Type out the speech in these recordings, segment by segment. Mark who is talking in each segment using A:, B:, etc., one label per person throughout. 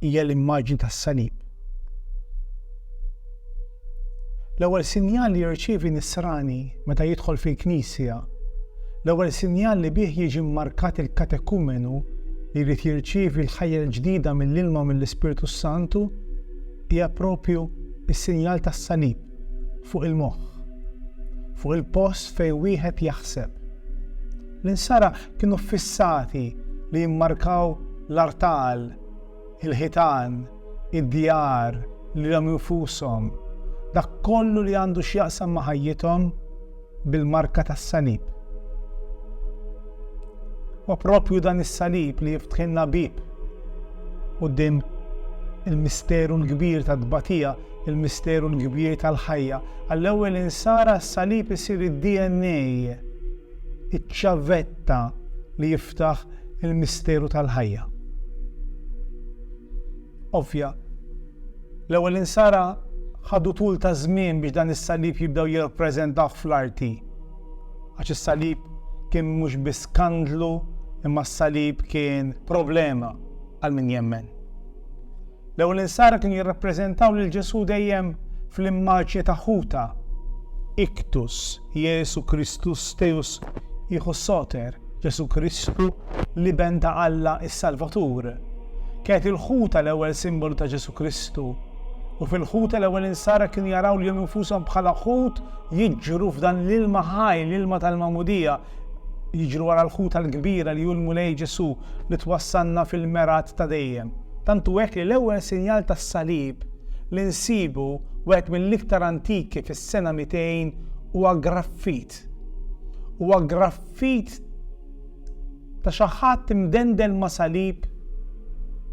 A: hija l-immaġni tas-salib. L-ewwel sinjal li jirċievi nisrani meta jidħol fil-knisja, l-ewwel sinjal li bih jiġi mmarkat il-katekumenu li jrid jirċievi l-ħajja l-ġdida mill-ilma u mill-Ispirtu s-Santu, hija proprju s-sinjal tas-salib fuq il-moħħ, fuq il-post fejn wieħed jaħseb. L-insara kienu ffissati li jimmarkaw l-artal, il-ħitan, id-djar, lilhom infushom, dak kollu li għandu x'jaqsam ma' ħajjithom bil-marka tas-salib. Huwa proprju dan is-salib li jiftħilna bieb quddiem il-misteru l-kbir tat-tbatija, il-misteru l-kbir tal-ħajja. Għall-ewwel insara s-salib isir id-DNA Iċ-ċavetta li jiftaħ il-misteru tal-ħajja. Ovvja, l-ewwel insara ħadu tul ta' żmien biex dan is-salib jibdew jirrappreżentawh fl-arti. Għax is-salib kien mhux biss skandlu imma s-salib kien problema għal min jemmen. L-ewwel insara kienu jirrappreżentaw lil Ġesù dejjem fl-immaġni ta' ħuta, Ictus, Iesu Christus Deus Ichthus Soter, Ġesù Kristu, l-Iben ta' Alla s-Salvatur. Kienet il-ħuta l-ewwel simbolu ta' Ġesù Kristu, u fil-ħuta l-ewwel insara kienu jaraw lilhom infushom bħala ħut jiġru f'dan l-ilma ħaj, l-ilma tal-magħmudija, Jiġru wara l-ħut għall-kbira li hu l-Mulej Ġesù li twassalna fil-mergħat ta' dejjem. Tant hu hekk li l-ewwel sinjal tas-salib li nsibu, wieħed mill-iktar antiki fis-sena 200, huwa graffit. Huwa graffit ta' xi ħadd imdendel ma' salib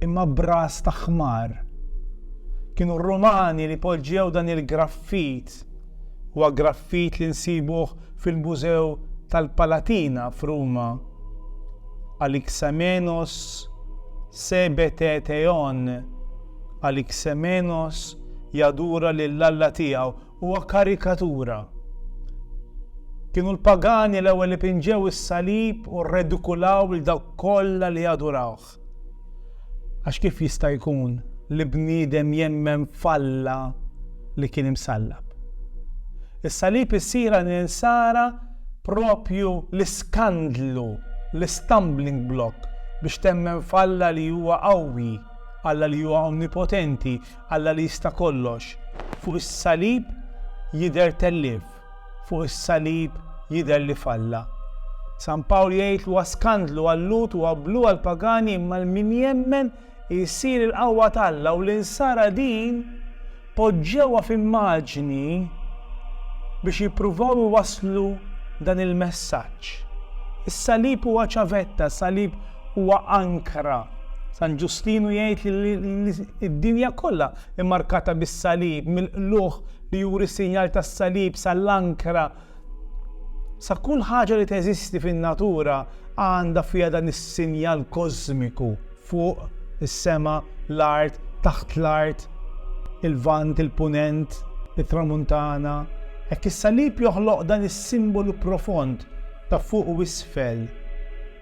A: imma b'ras ta' ħmar. Kienu r-Rumani li poġġew dan il-graffit Huwa graffit li nsibuh fil-Mużew tal-Palatina f'Ruma. Alixamenos sebetetheon, Alixamenos jadura lil alla tiegħu, huwa karikatura. Kienu l-pagani l-ewwel li pinġew is-salib u rredikulaw lil dawk kollha li jadurawh. ħadd. Għax kif jista' jkun li bniedem jemmen f'Alla li kien imsallab? Is-salib issir għal l-insara proprju l-iskandlu, l-istumbling block biex temmen f'Alla li huwa qawwi, Alla li huwa onnipotenti, Alla li jista' kollox. Fuq is-salib jidher tellif. fuq is-salib jidher li falla. San Pawl jgħid li huwa skandlu għal-Lhud u abblu għall-pagani imma l-min jemmen jsir il-qawwa t'Alla u l-insara din poġġewha f'immaġni biex jippruvaw iwasslu dan il-messaġġ. Is-salib huwa ċavetta, salib huwa ankra. San Ġustinu jgħid li d-dinja kollha immarkata bis-salib mill-qlugħ li juri s-sinjal tas-salib sa l-ankra, sa kull ħaġa li teżisti fin-natura għandha fiha dan is-sinjal kożmiku, fuq, is-sema, l-art, taħt l-art, il-Lvant, il-Punent, it-Tramuntana. Hekk is-salib joħloq dan is-simbolu profond ta' fuq u isfel.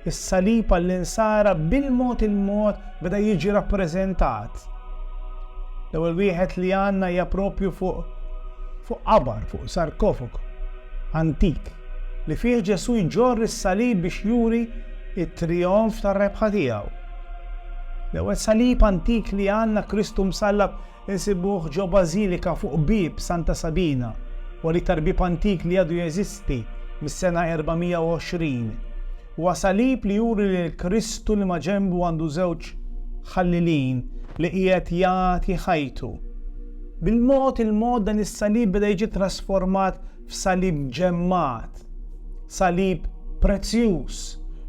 A: Is-salib għall-Insara bil-mod il-mod beda jiġi rappreżentat. L-ewwel wieħed li għandna hija proprju fuq fuq qabar, fuq sarkofagu antik li fih Ġesù jġorr is-salib biex juri t-trijonf tar-rebħa tiegħu. L-ewwel salib antik li għandna Kristu msallab Insibuh ġo Bażilika fuq Bieb Santa Sabina, huwa l-iktar bieb antik li għadu jeżisti mis-sena 420. Huwa salib li juri lil Kristu li maġenbu għandu żewġ ħallilin li qiegħed jagħti ħajtu. Bil-mod il-mod dan is-salib beda jiġi trasformat f'salib ġemmat, salib prezzjuż.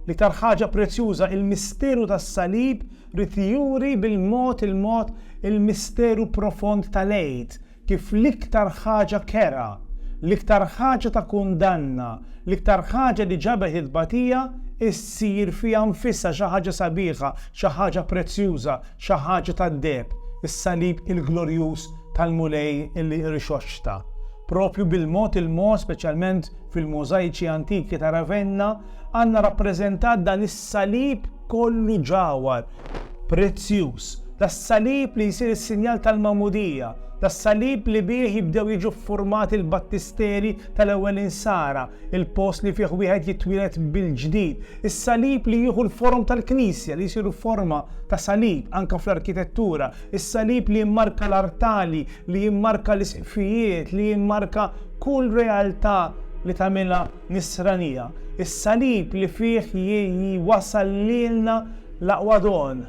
A: L-iktar ħaġa prezzjuża, il-misteru tas-salib Ried juri bil-mod il-mod il-misteru profond tal-Għid, kif l-iktar ħaġa kerha, l-iktar ħaġa ta' kundanna, l-iktar ħaġa li ġabet it-tbatija ssir fiha nfisha xi ħaġa sabiħa, xi ħaġa prezzjuża, xi ħaġa tad-deheb, is-Salib il-glorjuż tal-Mulej li rixoxta. Proprju bil-mod il-mod, speċjalment fil-mużajċi antiki ta' Ravenna, Għandna rappreżentat dan is-salib kollu ġawhar, prezzjuż, das-salib li jsir is-sinjal tal-magħmudija, das-salib li bih jibdew jiġu ffurmati l-battisteri tal-ewwel insara, il-post li fih wieħed jitwieled mill-ġdid, is-salib li jieħu l-forom tal-Knisja li jsir forma ta' salib anke fl-arkitettura, is-salib li jimmarka l-artali, li jimmarka l-isqfijiet, li jimmarka kull realtà li tagħmilha Nisranija, is-Salib li fih J.I. wasal lilna l-aqwa don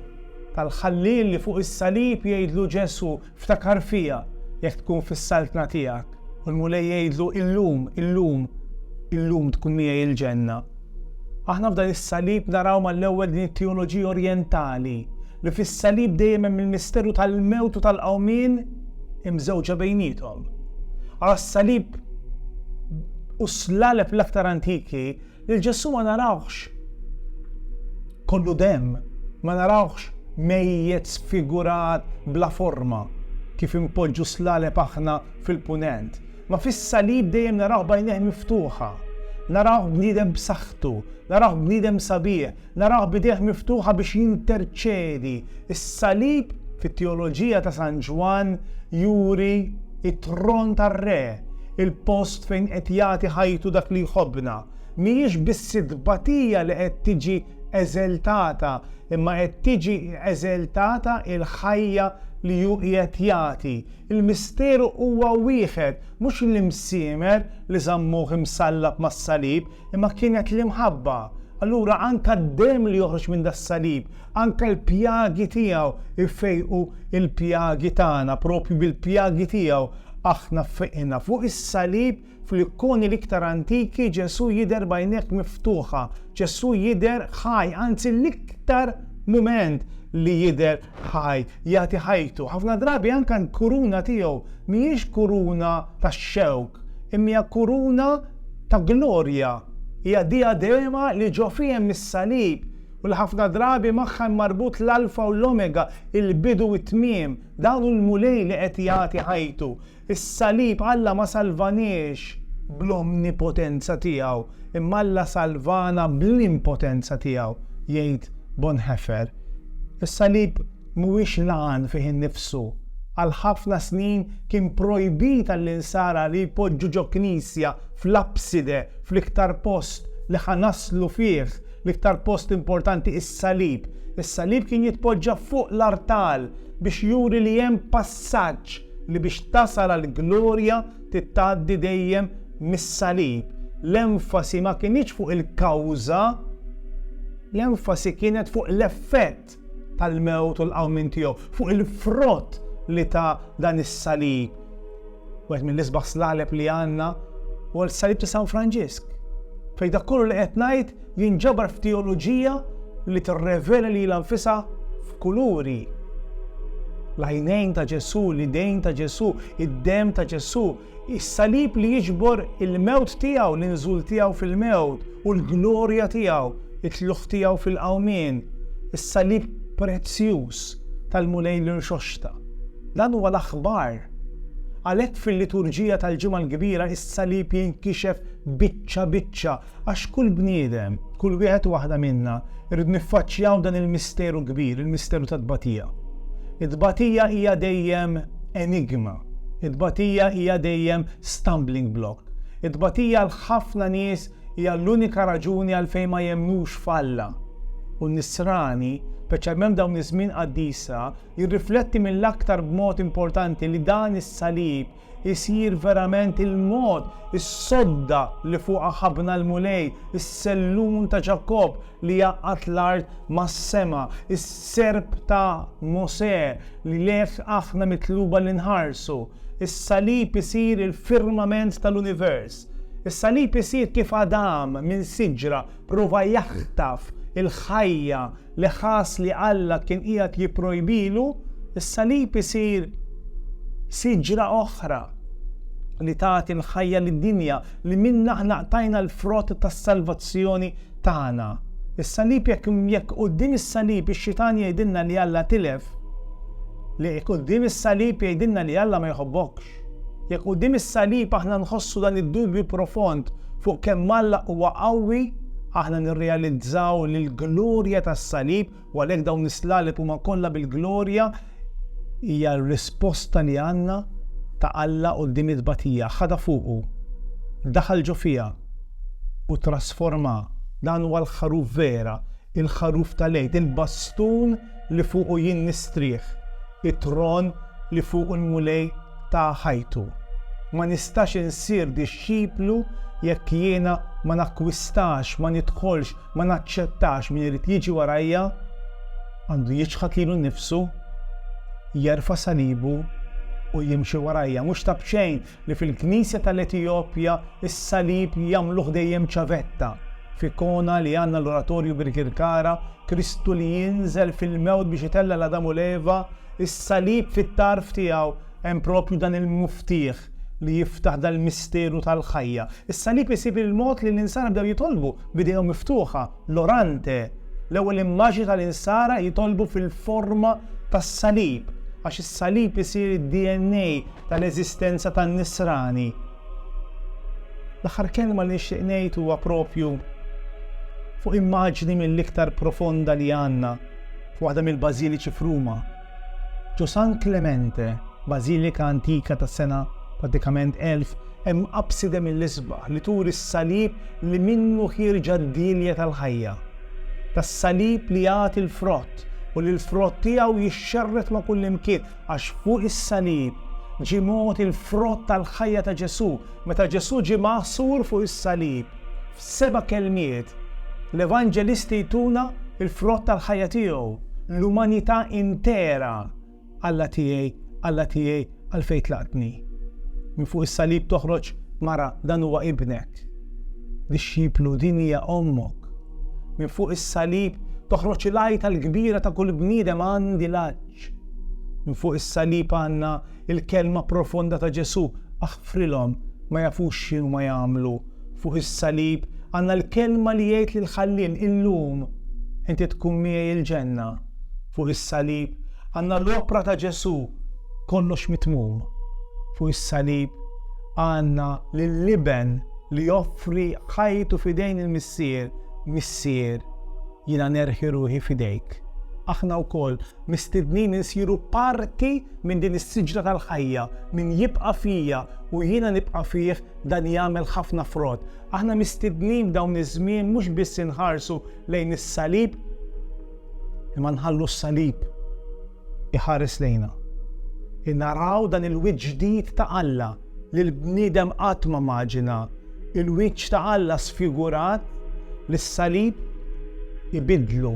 A: tal-Ħallieq li fuq is-Salib jgħidlu Ġesù, Ftakar fija jekk tkun fis-Saltna tiegħek, u l-Mulej jgħidlu, Illum, illum, illum tkun miegħi l-Ġenna. Aħna f'dan is-Salib naraw mal-ewwel din it-teoloġija orjentali, li fis-Salib dejjem hemm il-misteru tal-mewt u tal-qawmien imżewġa bejniethom. Ara s-Salib. u s-slaleb l-aktar antiki, lil Ġesù ma narawhx kollu demm, ma narawhx mejjet sfigurat bla forma kif inpoġġu s-slaleb aħna fil-Punent. Ma fis-salib dejjem narawh b'għajnejh miftuħa, narawh bniedem b'saħħtu, narawh bniedem sabiħ, Narawh b'idejh miftuħa biex jinterċedi. Is-salib, fit-teoloġija ta' San Ġwann, juri t-tron tar-Re, il-post fejn qed jagħti ħajtu dak li jħobbna. Mhijiex biss it-tbatija li qed tiġi eżeltata, imma qed tiġi eżeltata l-ħajja li hu qiegħed jagħti. Il-misteru huwa wieħed, mhux l-imsiemer li żammuh imsallab mas-salib, Imma kienet l-imħabba. Allura anke d-demm li joħroġ minn das-salib, anke l-pjagi tiegħu jfejqu l-pjagi tagħna, proprju bil-pjagi tiegħu aħna fejqna. Fuq is-salib, fl-ikkoni l-iktar antiki, Ġesù jidher b'għajnejh miftuħa. Ġesù jidher ħaj, anzi l-iktar mument li jidher ħaj, jagħti ħajtu. Ħafna drabi anke l-kuruna tiegħu mhijiex kuruna ta' xewk, imma hija kuruna ta' glorja. Hija diadema li ġo fiha hemm is-salib u li ħafna drabi magħha hemm marbut l-Alfa u l-Omega, il-bidu u t-tmiem. Dan hu l-Mulej li qed jagħti ħajtu. Is-salib, Alla ma salvaniex bl-omnipotenza tiegħu, imma Alla salvana bl-impotenza tiegħu, jgħid Bonhoeffer. Is-salib mhuwiex l-għan fih innifsu. Għal ħafna snin kien projbit għall-insara li jpoġġu ġo knisja fl-apside, fl-iktar post li ħa naslu fih, l-iktar post importanti, is-salib. Is-salib kien jitpoġġa fuq l-artal biex juri li hemm passaġġ li biex tasal għall-glorja trid tgħaddi dejjem mis-salib. L-enfasi ma kinitx fuq il-kawża, l-enfasi kienet fuq l-effett tal-mewt u l-qawmien tiegħu, fuq il-frott li ta dan is-salib. Wieħed mill-isbaħ slaleb li għandna huwa l-salib ta' San Franġisk. Fejn dak kollu li qed ngħid jinġabar f'teoloġija li tirrevela lilha nfisha f'kuluri. L-għajnejn ta' Ġesù, l-idejn ta' Ġesù, id-demm ta' Ġesù, is-salib li jiġbor il-mewt tiegħu, l-inżul tiegħu fil-mewt u l-glorja tiegħu, it-tlugħ tiegħu fil-qawmien, is-salib prezzjuż tal-Mulej li rxoxta. Dan huwa l-aħbar. Għalhekk fil-liturġija tal-Ġimgħa l-Kbira is-salib jinkixef biċċa biċċa Għax kull bniedem, kull wieħed u waħda minna, irridu niffaċċjaw dan il-misteru kbir, il-misteru tat-tbatija. It-tbatija hija dejjem enigma. It-tbatija hija dejjem stumbling block. It-tbatija għal ħafna nies hija l-unika raġuni għalfejn ma jemmnux f'Alla. U n-Nisrani, speċjalment f'dawn iż-żmien qaddisa, jirrifletti mill-aktar b'mod importanti li dan is-salib isir verament il-mod, is-sodda li fuqha ħabbna l-Mulej, is-sellun ta' Ġakobb li għaqqad l-art mas-sema, is-serp ta' Mosè li lejh aħna mitluba li nħarsu. Is-salib isir il-firmament tal-univers. Is-salib isir kif għadam minn siġra Prova jaħtaf il-ħajja li ħass li Alla kien qiegħed jipprojbilu, is-salib isir siġra oħra li tagħti l-ħajja lid-dinja, li minnha aħna qtajna l-frott tas-salvazzjoni tagħna. Is-salib jekk jekk quddiem is-salib ix-xitan jgħidilna li Alla tilef, li quddiem is-salib jgħidilna li Alla ma jħobbokx. Jekk quddiem is-salib aħna nħossu dan id-dubju profond fuq kemm Alla huwa qawwi, aħna nirrealizzaw li l-glorja tas-salib, u għalhekk dawn is-slaleb huma kollha bil-glorja, hija r-risposta li għandna ta' Alla quddiem it-tbatija. Ħadha fuqu, daħal ġo fiha, u trasformha. Dan huwa l-Ħaruf vera, il-Ħaruf tal-Għid, il-bastun li fuqu jien nistrieħ, it-tron li fuqu l-Mulej ta ħajtu. Ma nistax insir dixxiplu jekk jiena ma nakkwistax, ma nidħolx, ma naċċettax min irid jiġi warajja, għandu jiċħad lilu nnifsu, jerfa' salibu u jimxi warajja. Mhux ta b'xejn li fil-Knisja tal-Etijopja s-salib jagħmluh dejjem ċavetta, f'ikona li għandna l-Oratorju Birkirkara, Kristu li jinżel fil-mewt biex itella' 'l Adam u 'l Eva, is-salib fit-tarf tiegħu hemm proprju dan il-muftieħ li jiftaħ dal-misteru tal-ħajja. Is-salib isib il-mod li l-insara bdew jitolbu b'idejhom miftuħa, l-orante, l-ewwel immaġni tal-insara jitolbu fil-forma tas-salib, għax is-salib isir id-DNA tal-eżistenza tan-Nisrani. L-aħħar kelma li nixtieq ngħid huwa proprju fuq immaġni mill-iktar profonda li għandna f'waħda mill-bażiliċi f'Ruma. Ġo San Clemente, bażilika antika tas-sena pratikament 1000, hemm abside mill-isbaħ li turi s-salib li minnu ħierġa d-dielja tal-ħajja. Tas-salib li jagħti l-frott u li l-frott tiegħu jixxerred ma' kullimkien, Għax fuq is-salib ġie mogħti l-frott tal-ħajja ta' Ġesù. Meta Ġesù ġie magħsur fuq is-salib, f'seba' kelmiet, l-Evanġelisti jtuna l-frott tal-ħajja tiegħu, l-umanità intera, Alla tiegħi, Alla tiegħi, għalfejn tlaqtni? Minn fuq is-salib toħroġ mara, dan huwa ibnek. Dixxiplu, din hija ommok. Minn fuq is-salib toħroġ il-għajta l-kbira ta' kull bniedem, għandi l-għatx. ħruġ. Minn fuq is-salib għandna l-kelma profonda ta' Ġesù, aħfrilhom, ma jafux x'inhuma jagħmlu. Fuq is-salib għandna l-kelma li jgħid lill-Ħalliem, illum inti tkun miegħi il-ġenna. Fuq is-salib għandna l-opra ta' Ġesù, kollox mitmum. Fuq is-salib għandna lill-Iben li joffri ħajtu f'idejn il-Missier, Missier, Jiena nerħi ruħi f'idejk. Aħna wkoll mistednin insiru parti minn din is-siġra tal-ħajja, min jibqa' fija u jiena nibqa' fih dan jagħmel ħafna frott. Aħna mistednin f'dawn iż-żmien mhux biss inħarsu lejn is-salib, imma nħallu s-salib iħares lejna. Naraw dan il-wiċċ ġdid ta' Alla. li l-bniedem qatt ma maġina, il-wiċċ ta' Alla sfigurat li s-salib ibiddlu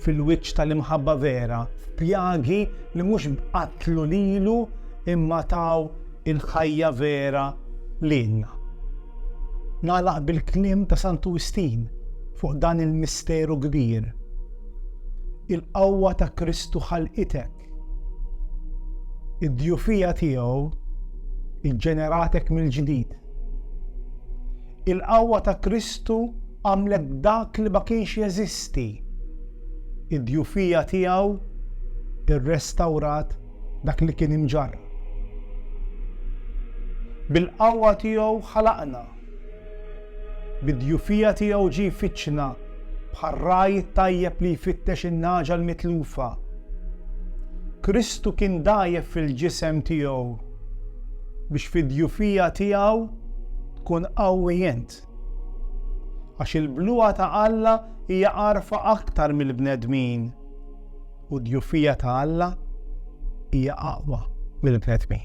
A: fil-wiċċ tal-imħabba vera, f'pjagi li mhux qatlu lilu imma taw il-ħajja vera lilna. Nagħlaq bil-kliem ta' Santu Wistin fuq dan il-misteru kbir. Il-qawwa ta' Kristu ħalqitek Id-djufija tiegħu ġġeneratek mill-ġdid. Il-qawwa ta' Kristu għamlet dak li ma kienx jeżisti. Id-djufija tiegħu rrestawrat dak li kien imġarrab. Bil-qawwa tiegħu ħalaqna. Bid-djufija tiegħu ġie jfittxna bħar-ragħaj it-tajjeb li jfittex in-nagħġa l-mitlufa. Kristu kien dgħajjef fil-ġisem tiegħu biex fid-djufija tiegħu tkun qawwi int. Għax il-bluha ta' Alla hija għarfa aktar mill-bnedmin, u d-djufija ta' Alla hija aqwa mill-bnedmin.